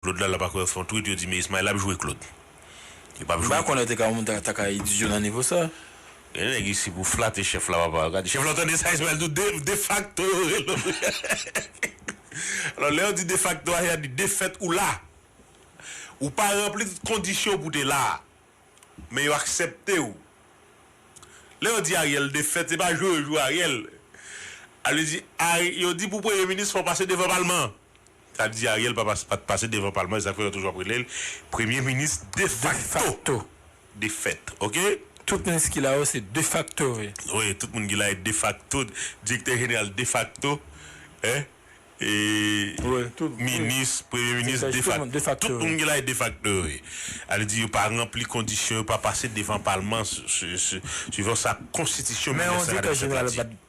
Claude lala pa kwè fon twit yo di me ismael ap jwe claude yo pap jwe. Mpa konnen te ka yon moun ta ka idyo nan nivo sa. Gen nèg isi pou flate chèf la papa gad chèf la tande sa Ismael do defakto yo relel wi alò lè yo di defakto a se a di defèt ou la ou pa ranpli tout kondisyon pou te la men yo aksèptew lè yo di Ariel defèt se pa jwe yo jwe Ariel a vle di yo di pou premye minis fò pase devan palman Sa di Ariel pa pas pat pase devan palman esak fè yo toujou ap rele l premye minis defakto de fèt ok. Tout minis ki la yo se defakto wi. Wi tout moun ki la yo defakto direktè jeneral defakto minis premye minis defakto tout moun ki la yo defakto wi sa vle di yo pa ranpli kondisyon yo pa pase devan palman suivan sa konstitisyon 1987 la di.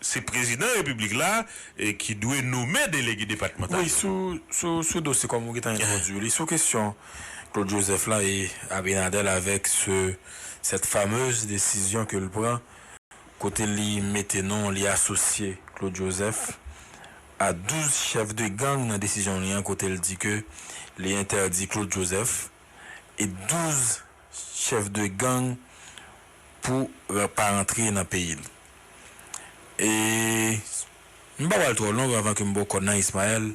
Se prezidan repiblik la ki dwe nome delege depatmantal yo. Wi, sou dosye kòm ou gentan entwodwi li, sou kesyon Claude Joseph la e Abinader avèk sèt famez desizyon ke l pran kote li mete non, li asosye Claude Joseph a 12 chèf de gang nan desizyon li an kote l di ke li entèdi Claude Joseph e 12 chèf de gang pou pa rantre nan peyi l. E m pa pral twò long anvan ke m ba w kòn nan Ismael.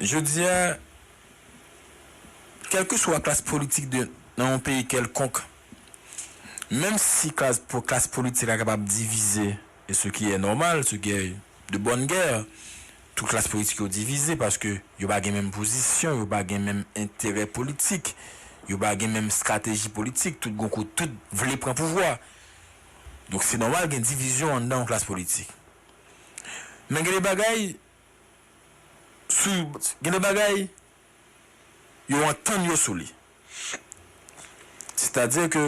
Jodi a, kèlkeswa klas politik de nan yon peyi kèlkonk, menm si klas klas politik la kapab divize, E ce qui est normal, ce qui est de bonne guerre, tout klas politik yo divize paske yo pa gen menm pozisyon, yo pa gen menm enterè politik, yo pa gen menm strateji politik, tout gon kote, tout vle pran pouvwa. Donk se normal gen divizyon anndan yon klas politik. Men gen de bagay, sou, gen de bagay yo antann yo sou li. Sètadi ke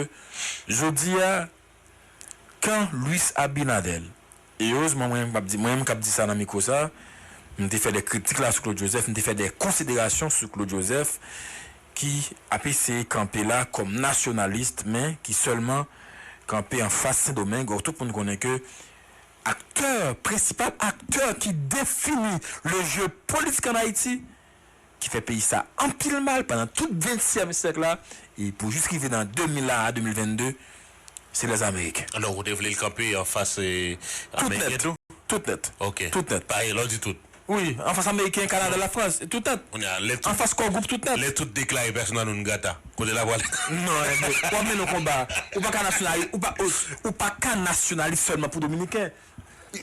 jodi a kan Luis Abinader, e erezman mwen menm kap di, mwen menm kap di sa nan mikwo sa, m te fè dè kritik la sou Claude Joseph, m te fè dè konsiderasyon sou Claude Joseph ki ap eseye kanpe la kòm nasyonalist men ki sèlman kanpe an fas Sendomeng or tout moun konnen ke aktè, prensipal aktè ki defini le jeu politik an Ayiti ki fè peyi sa anpil mal pandan tout ventyèm syèk la e pou jis rive nan 2000 la a 2022 se lè ameriken. Donk ou te vle l kanpe anfas ameriken tou? Tout nèt. Ok. Tout nèt. Pa lè w di tout. Wi, anfas ameriken, kanada, lafrans, tout nèt. Kounye a lè tout. Anfas kò gwoup tout nèt. Lè tout deklare persona non grata, kote l ap ale? Non Herve, w ap mennen yon konba. Ou pa ka nasyonalis, ou pa ka nasyonalis sèlman pou dominiken.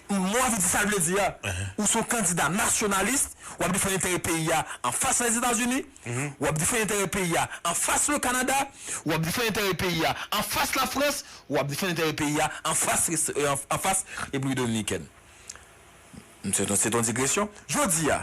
Mo a vle di sa l vle di a. Ou se yon kandida nasyonalis, w ap defann enterè peyi a anfas Lèzetazini, w ap defann enterè peyi a anfas Lekanada, w ap defann enterè peyi a anfas Lafrans, w ap defann enterè peyi a anfas Repiblik Dominikèn. Se t yon digresyon. Jodi a,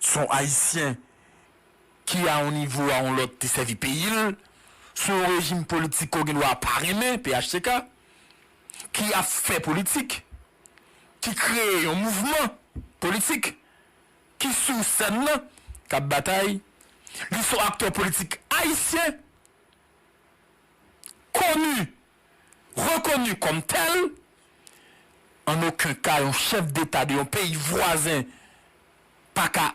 Son ayisyen ki a yon nivo a yon lòt te sèvi peyi l, son yon rejim politik ke w gen dwa pa renmen, phtk, ki ap fè politik, ki kreye yon mouvman politik, ki sou sèn lan, k ap batay, li son aktè politik ayisyen, koni. rekoni kòm tèl, an oken ka yon chèf deta de yon peyi vwazen pa ka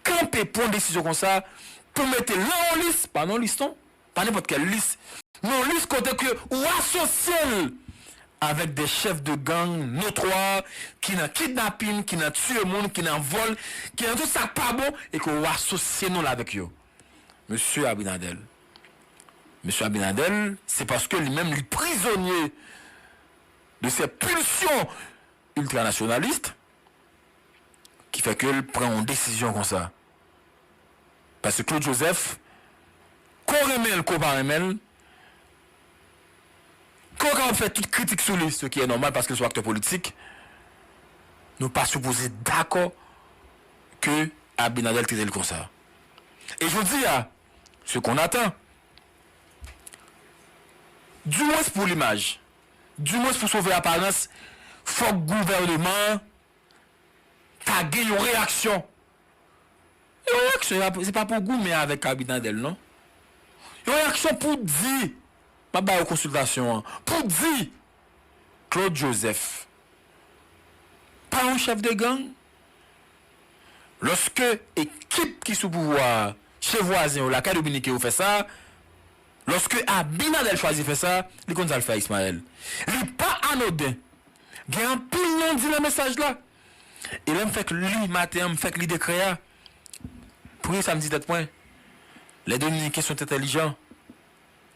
kanpe pwan desizyon konsa pou mete lan yon lis, pa nan lis non, pa nenpòt kèl lis, nan yon lis kote ke ou asosye l avèk de chèf de gang notwa ki nan kidnapin, ki nan tiye moun, ki nan vòl, ki nan tout sa k pa bon e ke ou asosye non l avèk yo. Mesye Abinadèl. Mesye a Bin Laden se paske li menm li prizonye de sè pulsyon ultranationaliste ki fè ke l pran yon desizyon konsa. Paske Claude Joseph ke w renmen l ke w pa renmen l, ke w kapab fè tout kritik sou li, se ki e nòmal paske l se yon aktè politik, nou pa sipoze dakò ke Abinader trete l konsa. E jodi a. Ce qu'on attend. Du moins pou limaj. Du moins pou sove aparans fok gouverneman an ta gen yon reyaksyon. Yon reyaksyon ya se pa pou goumen avek Kabinadel non. Yon reyaksyon pou di, map ba yo konsiltasyon an, pou di Claude Joseph pa yon chèf de gang? Lòske ekip ki sou pouvwa a, che vwazen yo, lakay dominiken yo fè sa, lòske Abinader chwazi fè sa, li konn sa l fè a Ismael. Li pa anoden. Gen anpil non di nan mesaj la. E lè m fèk li maten an, m fèk li dekrè a, premye sa m di tèt mwen, lè dominiken son tèt entèlijan,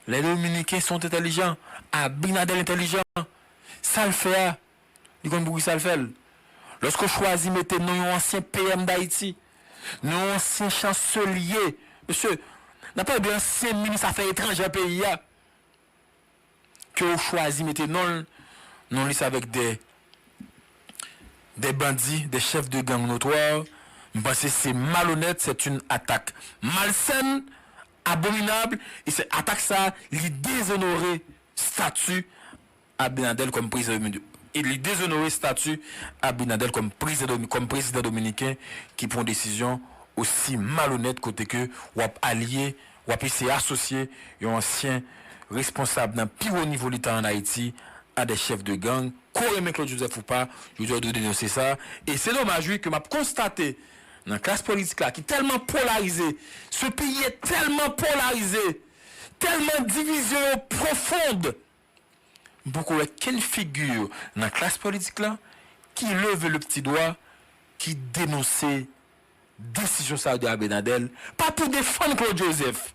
Les dominicains sont intelligents Abinader intelligent sal fè a li konn poukisa l fèl loske w chwazi mete non yon ansyen PM dayiti non yon ansyen chanselye mesye nap pale de ansyen minis afè etranjè peyi a ke w chwazi mete non l non li se avèk de de bandi de chèf de gang notwa m panse se malonèt sèt yn atak malsèn abominable e se atak sa li dezonore stati Abinader kòm prezidan e li dezonore stati Abinader kòm prezidan kòm prezidan dominiken ki pran desizyon osi malonèt kote ke w ap alye w ap eseye asosye yon ansyen responsab nan pi wo nivo leta an Ayiti a de chèf de gang. Ko renmen Claude Joseph ou pa, jodi a ou dwe denonse sa e se domaj wi ke m ap konstate Nan klas politik la ki tèlman polarize, ce peyi e tèlman polarize, tèlman divizyon yo profond, m poko wè kenn figure nan klas politik la ki leve le pti dwa, ki denonse desizyon sa de Abinadel, pa pou defann Claude Joseph,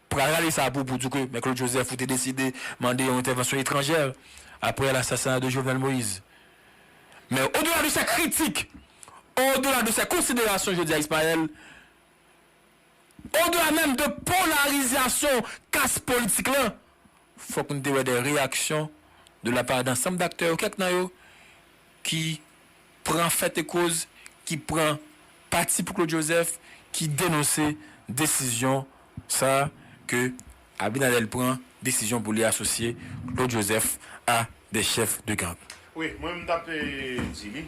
Pral rale sa pou pou di ke Me Claude Joseph ou te deside mande yon entèvansyon etranjè aprè lassasina de Jovenel Moïse. Men o dela de sè kritik, o dela de sè konsiderasyon jodi a Ismaël, o dela menm de polarizasyon kas politik lan, fok nou te wè de reyaksyon de la pa dansanm daktè yo, kèk nan yo, ki pran fèt e koz, ki pran pati pou Claude Joseph, ki denonse desizyon sa a ke Abinader pran, desizyon pou li asosye Claude Joseph a des chefs de gang. Wi, mwen menm tap di li.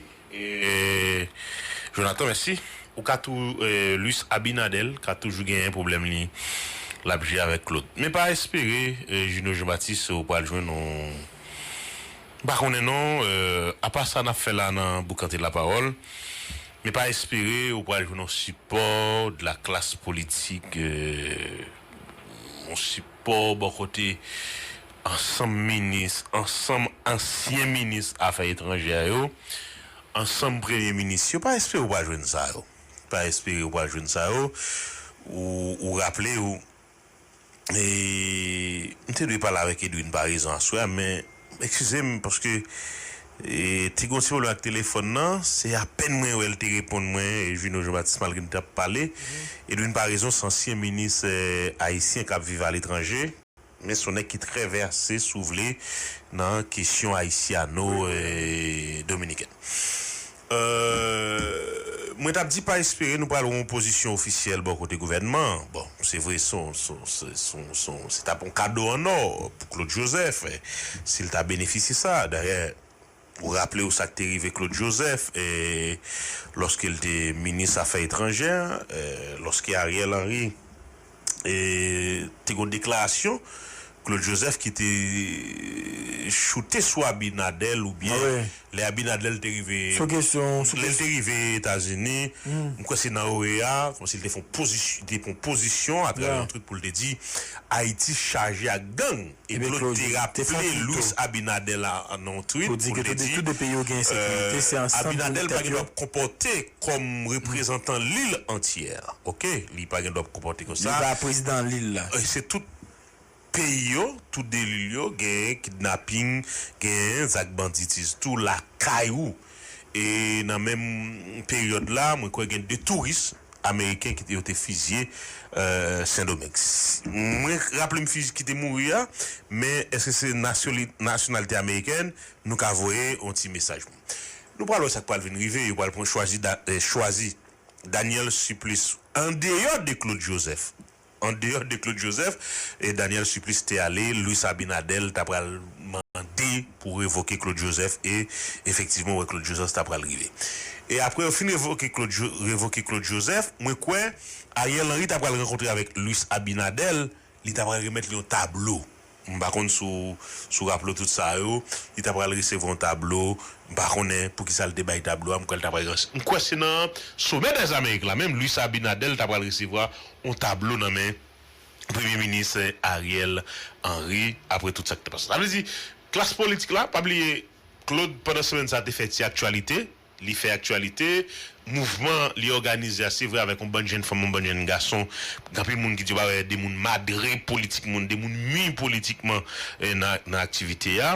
Jonathan mèsi. Ou ka tou Luis Abinader ka toujou genyen pwoblèm li lap jye avèk Claude. Men pa espere Junio Jean Baptiste ou pral jwenn yon. M pa konnen non, apa sa nap fè la nan boukante lapawòl, me pa espere ou pral jwenn yon sipò de la klas politik, yon sipò bò kote ansanm minis, ansanm ansyen minis afè etranjè yo, ansanm premye minis yo, pa espere ou pral jwenn sa yo, pa espere ou pral jwenn sa yo, ou raple ou M te dwe pale avèk Edwin Paraison aswè a men ekskize m paske te gen yon ti pwoblèm ak telefòn nan, se apèn mwen wè l te reponn mwen Juno Jean Baptiste malgre n t ap pale Edwin Paraison se ansyen minis ayisyen k ap viv aletranje, men se yon nèg ki trè vèse si w vle nan kesyon ayisyano dominikèn. Eeuh mwen tap di pa espere nou pral wè yon pozisyon ofisyèl bò kote gouvènman an. Bon se vre se yon se tap yon kado an nò pou Claude Joseph si l ta benefisye sa. Dayè ou raple w sa k te rive Claude Joseph lòske l te minis afè etranjè lòske Ariel Henry. te gon deklarasyon Claude Joseph ki te choute sou Abinadel ou byen lè Abinadel te rive lè l te rive Etazini m kwè se nan OEA kòm si l te fon pozisyon atravè yon trut pou l te di Ayiti chaje ak gang. Epi yo te raple Luis Abinader la nan yon tweet pou l te di, Abinader pa gen dwa ap konpòte kòm reprezantan lil antyè. Ok. Li pa gen dwa ap konpòte kon sa. Li pa prezidan lil la. Se tout peyi yo, tout 2 lil yo genyen kidnaping, genyen zak banditiz tou lakay ou. E nan menm peryòd la, mwen kwè gen 2 touris ameriken ki te yo te fizye Sendomeng. Mwen raple m fizye ki te mouri a, men eske se nasyonalite amerikèn, nou ka voye yon ti mesaj. Nou pral wè sa k pral vin rive, yo pral pran chwazi chwazi Daniel Supplice andeyò de Claude Joseph. An deyò de Claude Joseph, Daniel Supplice te ale, Luis Abinader ta pral mande pou revoke Claude Joseph e efektivman ou wè Claude Joseph ta pral rive. E apre yo fin revoke Claude revoke Claude Joseph, mwen kwè Ariel Henry ta pral rankontre avèk Luis Abinader, li ta pral remèt li yon tablo. M pa konn si w raple w tout sa yo. Li ta pral resevwa yon tablo. M pa konnen poukisa l te bay tablo a. M kwè l ta pral resevwa. M kwè se nan Somè dèz Amerik la menm Luis Abinader ta pral resevwa yon tablo nan men Premye Minis Ariel Henry apre tout sa ki te pase. Sa vle di klas politik la, pa bliye Claude pandan semèn sa te fè ti aktyalite. Li fè aktyalite, mouvman li òganize a se vre avèk yon bann jenn fanm, yon bann jenn gason, gen anpil moun ki di yo pa wè de moun madre politikman, de moun mi politikman nan aktivite a.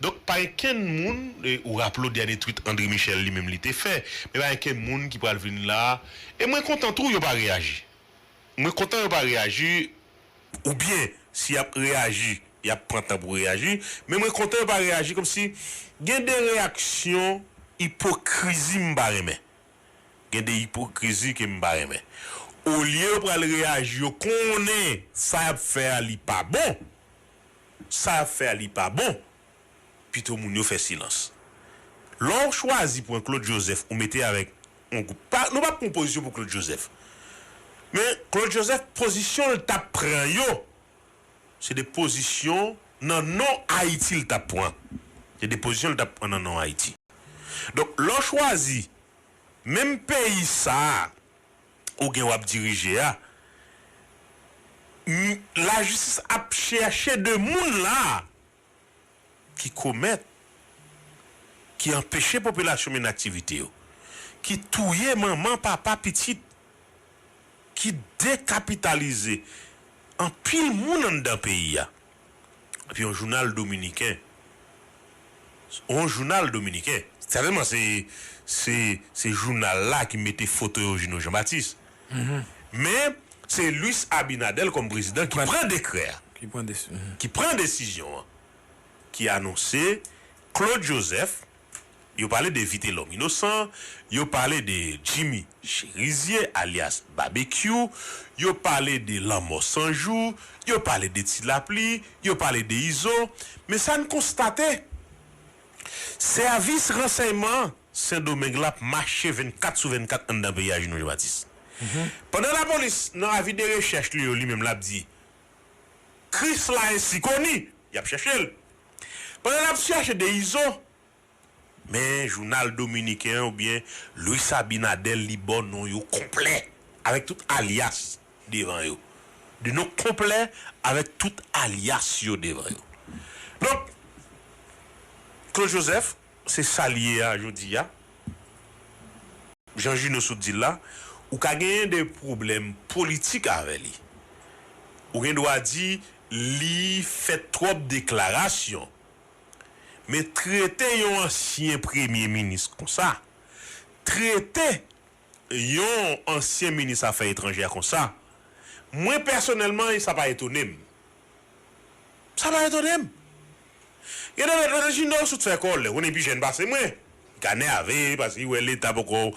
Donk pa gen kenn moun, ou raple w dènye twit André Michel li menm li te fè, men pa gen kenn moun ki pral vin la, e mwen kontan tou yo pa reyaji. Mwen kontan yo pa reyaji. Oubyen si yap reyaji yap pran tan pou reyaji men mwen kontan yo pa reyaji kòmsi gen de reyaksyon ipokrizi m pa renmen gen de ipokrizi ke m pa renmen olye yo pral reyaji yo konnen sa yap fè a li pa bon sa yap fè a li pa bon pito moun yo fè silans. Lè w chwazi pran Claude Joseph ou mete avèk yon gwoup, pa, nou pap pran pozisyon pou Claude Joseph, men Claude Joseph pozisyon l tap pran yo se de pozisyon nan non Ayiti l tap pran, se de pozisyon l tap pran nan non Ayiti. Donk lè w chwazi menm peyi sa a ou gen wap dirije a, m, lajistis ap chèche de moun la a. ki komèt, ki anpeche popilasyon mennen aktivite yo, ki touye manman, papa, pitit, ki dekapitalize anpil moun anndan peyi a. Epi yon jounal dominiken, yon jounal dominiken, sètènman se jounal la ki mete foto Eugeno Jean Baptiste. Men, se Luis Abinader kòm prezidan ki pran dekrè a, ki pran desizyon an, ki anonse Claude Joseph, yo pale de Vitelòm Inosan, yo pale de Jimmy Cherizier alyas Babekyou, yo pale de Lanmò San Jou, yo pale de Ti Lapli, yo pale de Izo, men sa n konstate, Sèvis ransèyman Sendomeng la ap mache 24 sou 24 anndan peyi a Juno Jean-Baptiste. Pandan lapolis nan avi de rechèch li yo li menm l ap di Kris la ensi koni, y ap chèche l. Pandan l ap chèche de Izo, men jounal dominiken an oubyen Luis Abinader li ba w non yo konplè avèk tout alyas. devan yo, de non konplè avèk tout alyas yo devan yo. Donk, Claude Joseph, se sa l ye a jodi a. Jan Juno sot di l la, ou ka genyen de pwoblèm politik avè li. Ou gen dwa di li fè twòp deklarasyon. Men trete yon ansyen premye minis konsa, trete yon ansyen minis afè etranjè konsa, mwen pèsonèlman sa pa etone m. Sa pa etone m. Gen de lòt lè Jino sot fè kò l, lè konnen pi jèn pase mwen, li ka nèave paske li wè leta poko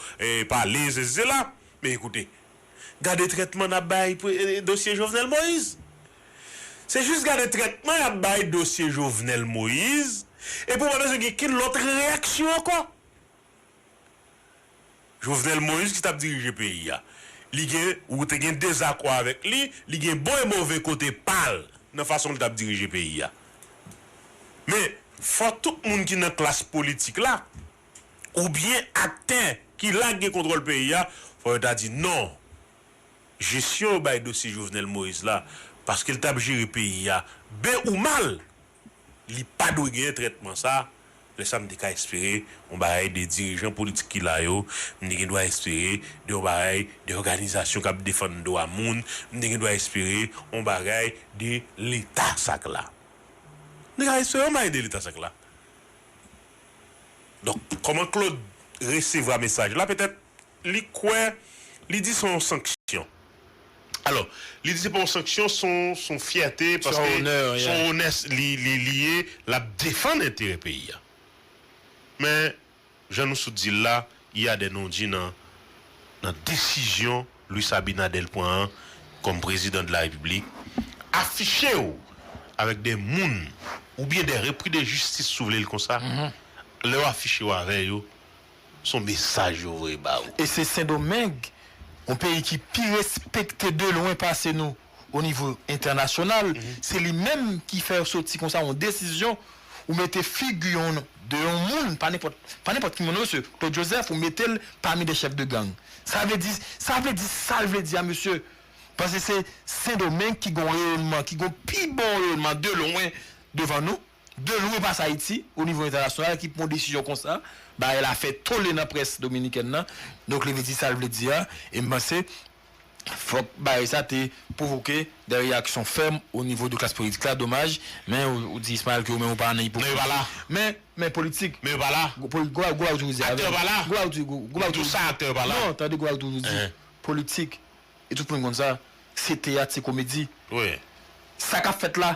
pale sesi sela. Men koute, gade trètman n ap bay dosye Jovenel Moïse. Se jis gade trètman y ap bay dosye Jovenel Moïse epi w pa bezwen gen okenn lòt reyaksyon ankò. Jovenel Moïse ki tap dirije peyi a li gen ou te gen dezakò avèk li li gen bon e move kote pal nan fason li tap dirije peyi a men fò tout moun ki nan klas politik la ou byen aktè ki la ki gen kontwòl peyi a fò yo ta di non jesyon yo bay dosye Jovenel Moïse la paske li tap jere peyi a ben ou mal. Li pa dwe gen trètman sa, lè sa m te ka espere yon bagay de dirijan politik ki la yo, m te gen dwa espere de yon bagay de òganizasyon k ap defann dwa moun, m te gen dwa espere yon bagay de leta sa k la. M te ka espere yon bagay de leta sa k la. Donk, kòman Claude resevwa mesaj la petèt li kwè, li di son sanksyon. Alò, li di se pa yon sanksyon, son son fyète paske son onè li li ye, l ap defann enterè peyi a. Men, jan nou sot di l la, il y a des non-dits nan nan desizyon Luis Abinader pran an kòm prezidan de la Repiblik, afiche w avèk de moun oubyen de repris de justice si w vle l konsa, lè w afiche w avè yo, Son mesaj yo voye ba ou. E se sendomeng yon peyi ki pi respekte de lwen pase nou o nivo entènasyonal se li menm ki fè yo soti konsa yon desizyon ou mete figi yon de yon moun pa nenpòt pa nenpòt ki moun non mesye claude joseph ou metel pami de chèf de gang sa vle di sa vle di sal vle di a mesye paske se sendomeng ki gon reyonman ki gon pi bon reyonman de lwen devan nou. De lwen pa sa Ayiti, o nivo entènasyonal ki pwan desizyon konsa, bagay la fè tole nan près dominikèn nan, donk li vle di sa l vle di a, e m panse fòk bagay sa te pwovoke dè reyaksyon fèm o nivo de klas politik la, domaj, men ou di Ismael ke ou menm ou pa nan ipokrizi. Men yo pa la. Men, men politik. Men yo pa la. Gwo poli, gwo bagay, gwo bagay ou toujou di avè m. Aktè yo pa la. Gwo bagay ou toujou, gwo bagay ou toujou di. Nan tou sa aktè yo pa la. Non, tande gwo bagay ou toujou di. Politik, e tout moun konn sa, se teyat, se komedi. Wi. Sa k ap fèt la.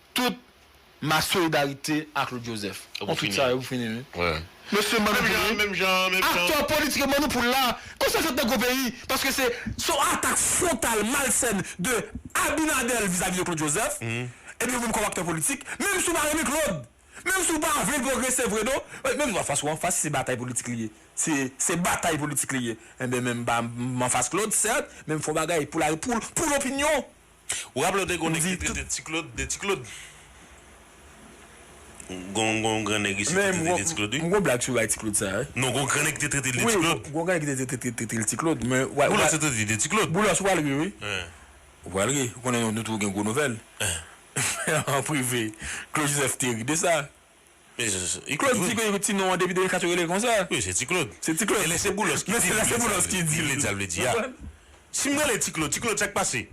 Tout ma solidarite a Claude Joseph. Bon tout sa yo pou fini wi. Mesye manno pou nou. Aktè politik yo manno pou la. Konsa fèt nan gwo peyi. Paske se. Se yon atak frontal malsèn de Abinader vizavi de Claude Joseph. Ebyen ou menm kòm aktè politik. Menm si ou pa renmen Claude. Menm si ou pa vle pwogrese vre non. Menm nou anfas ou anfas si se batay politik li ye. Si se batay politik li ye. Ebyen menm m anfas Claude sèt. Menm fon bagay pou la pou pou lopinyon. Ou raple w te gen yon nèg ki te rele Tiklod de Tiklod? Gen yon gran nèg isit ki te rele Tiklod wi. M gon blag sou bay Tiklod sa wi. Non gon gran nèg ki te trete l de Tiklod. Wi gon gran nèg ki te trete l de Tiklod. Boulos te trete li de Tiklod. Boulos ou pral ri wi. Ou pral ri. Ou konnen nou toujou gen gwo nouvèl. An prive. Claude Joseph te ri de sa. Claude di ke ti non an depi 2004 yo rele l konsa. Wi se ti Claude. Se ti Claude. Men lè se Boulos ki di l. Men lè se Boulos ki di l. Li vle di sa l vle di a. Si m rele l ti Claude, ti Claude sa k pase?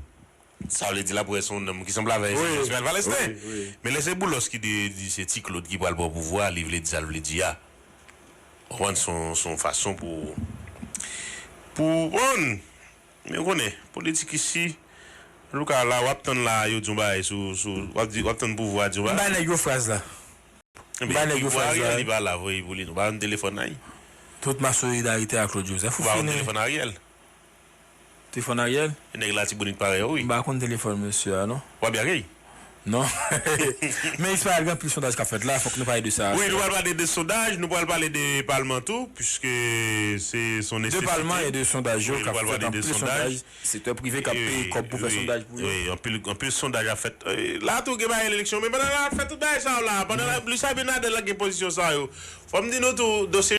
Sa vle di l ap wè se yon nonm ki sanble avè enstitisyon Sipèl Palestin. Men lè se Boulos ki di di se ti Claude ki pral pran pouvwa a, li vle di sa l vle di a. Ou konprann se yon fason pou pou w konprann. Men ou konnen politik isi. Antouka la wap tann la yo di yon bagay sou sou wap di wap tann pouvwa di yon bagay. M bay nèg yo fraz la. M bay nèg yo fraz la. Ebyen Ariel li pa la vre pou li nou pa banm telefòn nan y. Tout ma solidarite a Claude Joseph. Ou fini. Ou pa konn telefòn Ariel. Telefòn Ariel? E nèg latibonit parèy ou wi. M pa konn telefòn mesye a non. Wap byen ak li? Non Men Israel gen anpil sondaj kap fèt la fòk nou pale de sa. Wi nou pral pale de sondaj, nou pral pale de palman tou puiske se son nesesite. De palman e de sondaj yo kap fèt anpil sondaj sektè prive kap peye kòb pou fè sondaj pou yo. Wi anpil sondaj ap fèt la tou gen bagay eleksyon men pandan nap fè tout bagay sa yo la pandan Luis Abinader la gen pozisyon sa yo fòm di nou tou dosye